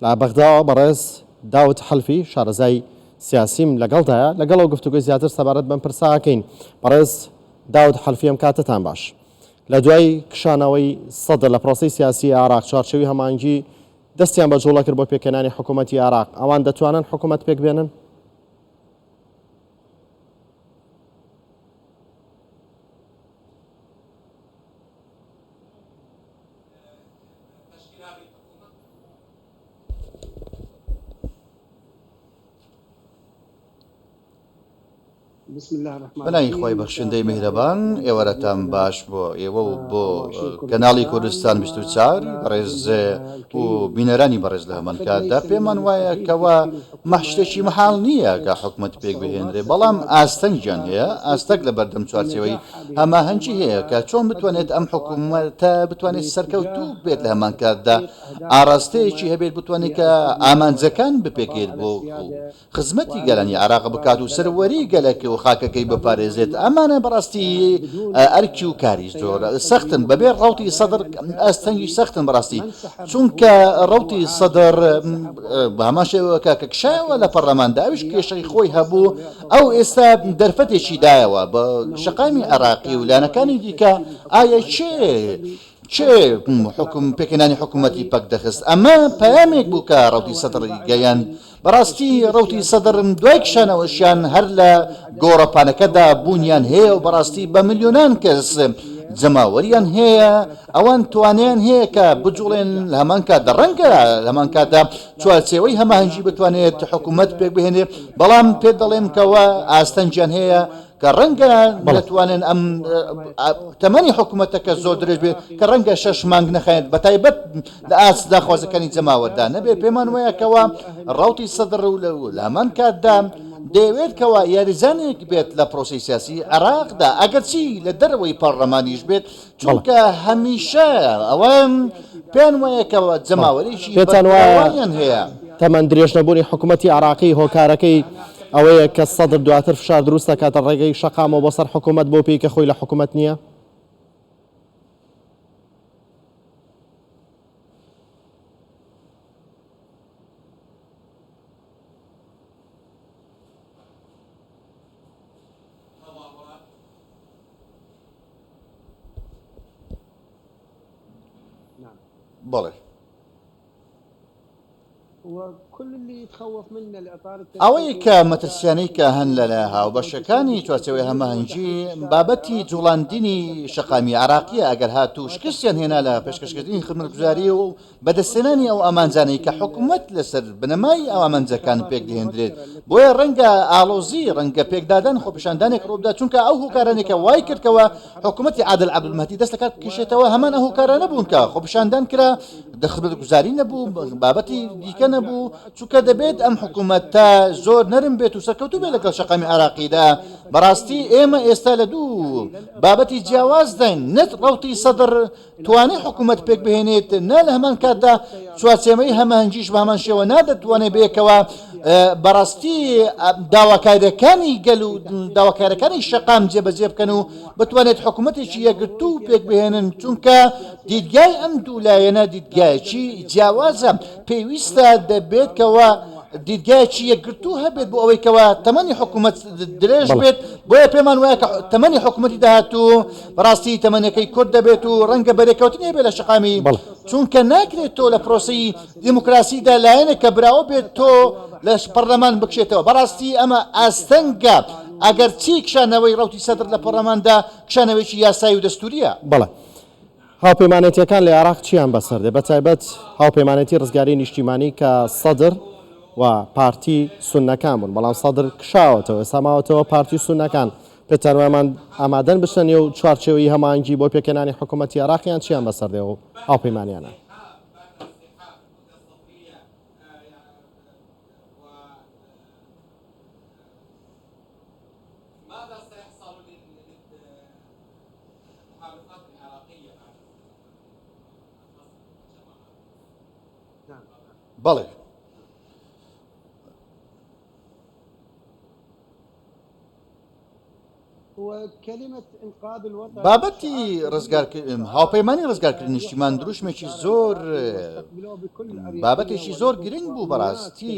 لە بەغداوە بەڕێز داود حەلفی شارەزای سیاسیم لەگەڵدایە لەگەڵەوە گفتوگۆی زیاتر سەبارەت بەم پرسە ئەکەین بەڕێز داود حەلفی ئەم کاتتان باش لە دوای کشانەوەی سەدر لە پرۆسی سیاسی عراق چوارچەوی هەمانگی دەستیان بە جوڵە کرد بۆ پێکەنانی حکوومەتتی عراق ئەوان دەتوانن حکوومەت پێک بێنن بەناوی خوای بەخشندەی میهرەبان ئێوارەتان باش بۆ ئێوە و بۆ کەناڵی کوردستان بیست و چوار بەڕێز و بینەرانی بەڕێز لە هەمان کاتدا پێمان وایە کەوا مە شتێکی مەحاڵ نییە کە حکومەت پێک بهێنرێ، بەڵام ئاستەنگیان هەیە، ئاستەک لە بەردەم چوارچێوەی هەماهەنگی هەیە کە چۆن بتوانێت ئەم حکومەتە بتوانێت سەرکەوتوو بێت لە هەمان کاتدا ئاڕاستەیەکی هەبێت بتوانێت کە ئامانجەکان بپێکێت بۆ خزمەتی گەلانی عێراق بکات و سەروەری گەلەکە و خاکەکەی بپارێزێت ئەمانە بەڕاستی ئەرکی و کاری زۆر سەختن بەبێ ڕەوتی سەدر ئاستەنگی سەختن بەڕاستی چونکە ڕەوتی سەدر بە هەمان شێوە کاکە کشایەوە لە پەرلەماندا ئەویش کێشەی خۆی هەبوو ئەو ئێستا دەرفەتێکی دایەوە بە شەقامی عێراقی و لایەنەکانی دیکە ئایا چێ چێ حکم پێکەنانی حکوومەتی پەک دەخست ئەمە پەیامێک بوو کە ڕەوتی سەدڕی گەیاند بەڕاستی ڕەوتی سەدڕن دوای کشانەوەشیان هەر لە گۆڕەپانەکەدا بوونیان هەیە و بەڕاستی بە ملیۆنان کەس جەماوەریان هەیە ئەوان توانیان هەیە کە بجوڵێن لە هەمان کاتدا ڕەنگە لە هەمان کاتدا چوارچێوەی هەماهەنگی بتوانێت حکوومەت پێک بهێنێ بەڵام پێت دەڵێم کەەوە ئاستەنگیان هەیە کە ڕەنگە نەتوانن ئەم تەمەنی حکوومەتەکە زۆر درێژ بێت کە ڕەنگە شەش مانگ نەخایەنێت بە تایبەت لە ئاست داخوازەکانی جەماوەردا نەبێت پێمان وایە کەوا ڕاوتی سەدڕ و لە هەمان کاتدا دەیەوێت کەوا یاریزانێک بێت لە پرۆسی سیاسی عێراقدا ئەگەرچی لە دەرەوەی پەڕلەمانیش بێت چونکە هەمیشە ئەوان پێیان وایە کە جەماوەرێکی پێتان وایە بەرفراوانیان هەیە. تەمەن درێژنەبوونی حکوومەتی عێراقی هۆکارەکەی ئەوەیە کە سەدر دواتر فشار دروست دەکاتە ڕێگەی شەقامەوە بۆ سەر حکوومەت بەو پێی کە خۆی لە حکوومەت نییە؟ بەڵێ ئەوەی کە مەترسیانەی کە هەن لە لە هاوبەشەکانی چوارچەوەی هەماهەنگی بابەتی جوڵاندنی شەقامی عراقیە ئەگەر هاتوو شکستیان هێنا لە پێشکەشکردنی خزمەتگوزاری و بەدەستهێنانی ئەو ئامانجانەی کە حکومەت لەسەر بنەمای ئامانجەکان پێکدەهێندرێت، بۆیە ڕەنگە ئاڵۆزی، ڕەنگە پێکدادان، خۆپیشاندانێک ڕووبدات، چونکە ئەو هۆکارانەی کە وایکردکەوە حکومەتی عادل عەبدولمەهدی دەست لەکار بکشێتەوە هەمان ئەو هۆکارانە بوون کە خۆپیشاندان کرا، خزمەتگوزاری نەبوو، بابەتی دیکە نەبوو، چونکە دەبێت ئەم حکومەتە زۆر نەرم بێت و سەرکەوتوو بێت لەگەڵ شەقامی عێراقیدا، بەڕاستی ئێمە ئێستا لە دوو بابەتی جیاوازداین، نەک ڕەوتی سەدر، توانای حکومەت پێکبهێنێت نا لە هەمان کاتدا چوارچێمەی هەماهەنگیش بەهەمان شێوە نادەتوانێت بەیەکەوە بەڕاستی داواکاریەکانی گەل و داواکارەکانی شەقام جێبەجێ بکەن و بتوانێت حکوومەتێکی یەگرتو و پێکبهێنن چونکە دیدگای ئەم دوولایەنە دیدگایەکی جیاوازە پێویستە دەبێتکەوە دیدگایکی یەکگرتو هەبێت بۆ ئەوەیکەوە تەمەنی حکوومەت درێژ بێت بۆیە پێمان وایە کە تەمەنی حکوومەتی داهاتوو بەڕاستی تەمەنەکەی کورت دەبێت و ڕەنگە بەرێکەوتنێ بێت لە شەقامی، چونکە ناکرێت تۆ لە پرۆسەی دیموکراسیدا لایەنێک کە براوە بێت تۆ لە پەڕلەمان بکشێتەوە، بەڕاستی ئەمە ئاستەنگە، ئەگەرچی کشانەوەی ڕەوتی سەدر لە پەڕلەماندا کشانەوەیەکی یاسایی و دەستوورییە. بەڵێ هاوپەیمانێتییەکان لە عێراق چییان بەسەر دێت، بەتایبەت هاوپەیمانێتی ڕزگاریی نیشتیمانی کە سەدر و پارتی سوننەکان بوون، بەڵام سەدر کشاوەتەوە، ئێستا ماوەتەوە پارتی و سوننەکان، پێتان وایە ئەمان ئامادەن بچنە نێو چوارچێوەی هەماهەنگی بۆ پێکهێنانی حکوومەتی عێراق یان چییان بەسەر دێ و هاوپەیمانیانە؟ بەڵێ. بابەتی ڕزگارکردن هاوپەیمانی ڕزگارکردن نیشتیمان دروشمێکی زۆر بابەتێکی زۆر گرنگ بوو بەڕاستی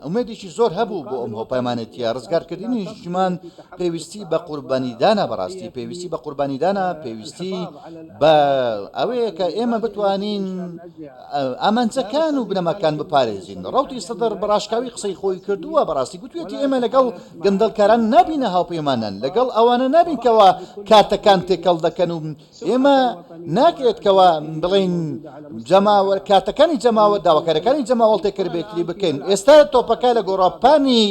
ئومێدێکی زۆر هەبوو بۆ ئەم هۆپەمانەتیە ڕزگارکردنی نیشتیمان پێویستی بە قوربانیدانە بەڕاستی پێویستی بە قوربانیدانە پێویستی بە ئەوەیە کە ئێمە بتوانین ئامانجەکان و بنەماکان بپارێزین. ڕەوتی سەدر بە ڕاشکاوی قسەی خۆی کردووە، بەڕاستی گوتویەتی ئێمە لەگەڵ گەندەڵکاران نابینە هاوپەیمانان، لەگەڵ ئەوانە نابین کەوا کارتەکان تێکەڵ دەکەن و ئێمە ناکرێت کەوا بڵێین جەماوەر کارتەکانی جەماوەر داواکارەکانی جەماوەڵ تێکەربێکری بکەین، ئێستا تۆپەکە لە گۆڕەپانی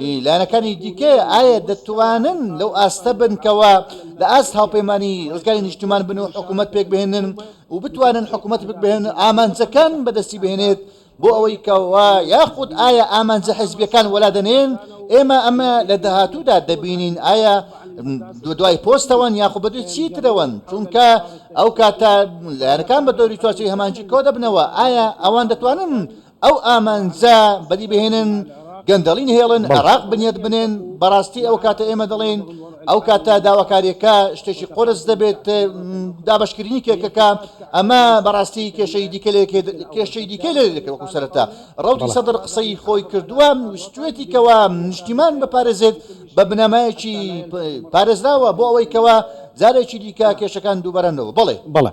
ی لایەنەکانی دیکەیە، ئایا دەتوانن لەو ئاستە بن کەوا لە ئاست هاوپەیمانی ڕزگاری نیشتمان بن و حکوومەت پێک بهێنن و بتوانن حکوومەت پێک بهێنن ئامانجەکان بەدەستی بهێنێت بۆ ئەوەی کەوا یاخود ئایا ئامانجە حزبیەکان وەلا دەنێن ئێمە ئەمە لە داهاتوودا دەبینین ئایا دو دوای پۆستەوەن یاخود بەدوی چی ترەوەن چونکە ئەو کاتە لایەنەکان بە دەوری چوارچەی هەمانجی کۆ دەبنەوە ئایا ئەوان دەتوانن ئەو ئامانجە بەدی بهێنن گەندەڵی نەهێڵن عێراق بنیات بنێن بەڕاستی ئەو کاتە ئێمە دەڵێن ئەو کاتە داواکاریەکە شتێکی قرس دەبێت دابشکردنی کێکەکە ئەمە بەڕاستی کێشەی دیکە لێ کێشەی دیکە لێ دەکەوەکو سەرەتا ڕوتی سەدر قسەی خۆی کردووە ویستێتی کەوا نیشتیمان بپارێزێت بە بنەمایەکی پارێزراوە بۆ ئەوەی کەوا جارێکی دیکە کێشەکان دووبارەنەوە بڵێ بڵێ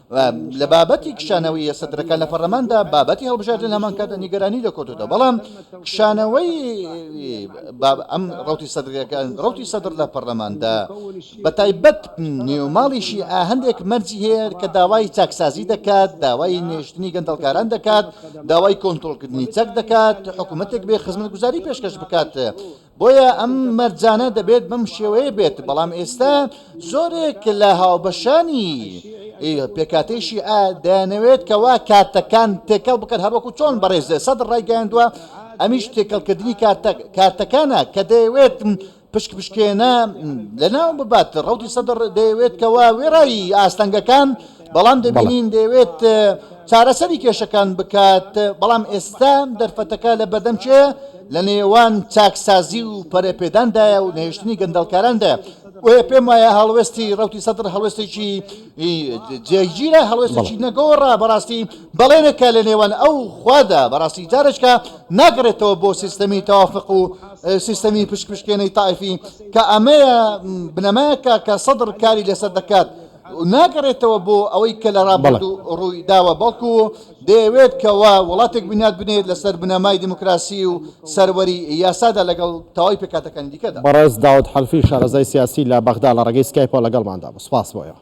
لە بابەتی کشانەوەی سەدرەکان لە پەرلەماندا بابەتی هەڵبژاردن هەمان کاتە نیگەرانی لە کۆتودا بەڵام کشانەوەی ئەم ڕوتی سەدرەکان ڕوتی سەدر لە پەرلەماندا بە تایبەت نێوماڵیشی ئاهندێک مەرجی هەیە کە داوای چاکسازی دەکات داوای نێشتنی گەندەڵکاران دەکات داوای کۆنتترۆلکردنی چەک دەکات حکوومەتێک بێ خزمەت گوزاری پێشکەش بکات بۆیە ئەم مەرجانە دەبێت بەم شێوەیە بێت، بەڵام ئێستا زۆرێک لە هاوبەشانی پێکاتەی شیعە دەیانەوێت کەوا کارتەکان تێکەڵ بکەن هەروەکو چۆن بەڕێز سەد ڕایگەیاندووە ئەمیش تێکەڵکردنی کارتەکانە کە دەیەوێت پشک پشکێنە لەناو ببات ڕوتی سەدر دەیەوێت کەوا وێڕایی ئاستەنگەکان بەڵام دەبینین دەیەوێت چارەسەری کێشەکان بکات، بەڵام ئێستا دەرفەتەکە لە بەردەم کێیە؟ لە نێوان چاکسازی و پەرەپێداندایە و نەهێشتنی گەندەڵکاراندایە. بۆیە پێم وایە هەڵوێستی ڕوتی سەدر هەڵوێستێکی جێگیرە هەڵوێستێکی نەگۆڕە بەڕاستی بەڵێنێکە لە نێوان ئەو خوادا بەڕاستی جارێکە ناگەڕێتەوە بۆ سیستەمی تەوافق و سیستەمی پشکپشکێنەی تایفی کە ئەمەیە بنەمایەکە کە سەدر کاری لەسەر دەکات. ناگەڕێتەوە بۆ ئەوەی کە لە ڕابردوو ڕووی داوە بەڵکو دەیەوێت کەوا وڵاتێک بنیات بنێت لەسەر بنەمای دیموکراسی و سەروەری یاسادا لەگەڵ تەواوی پێکهاتەکانی دیکەدا. بەڕێز داود حەلفی شارەزای سیاسی لە بەغدا لە ڕێگەی سکایپەوە لەگەڵماندا بوو. سپاس بۆ ئێوە.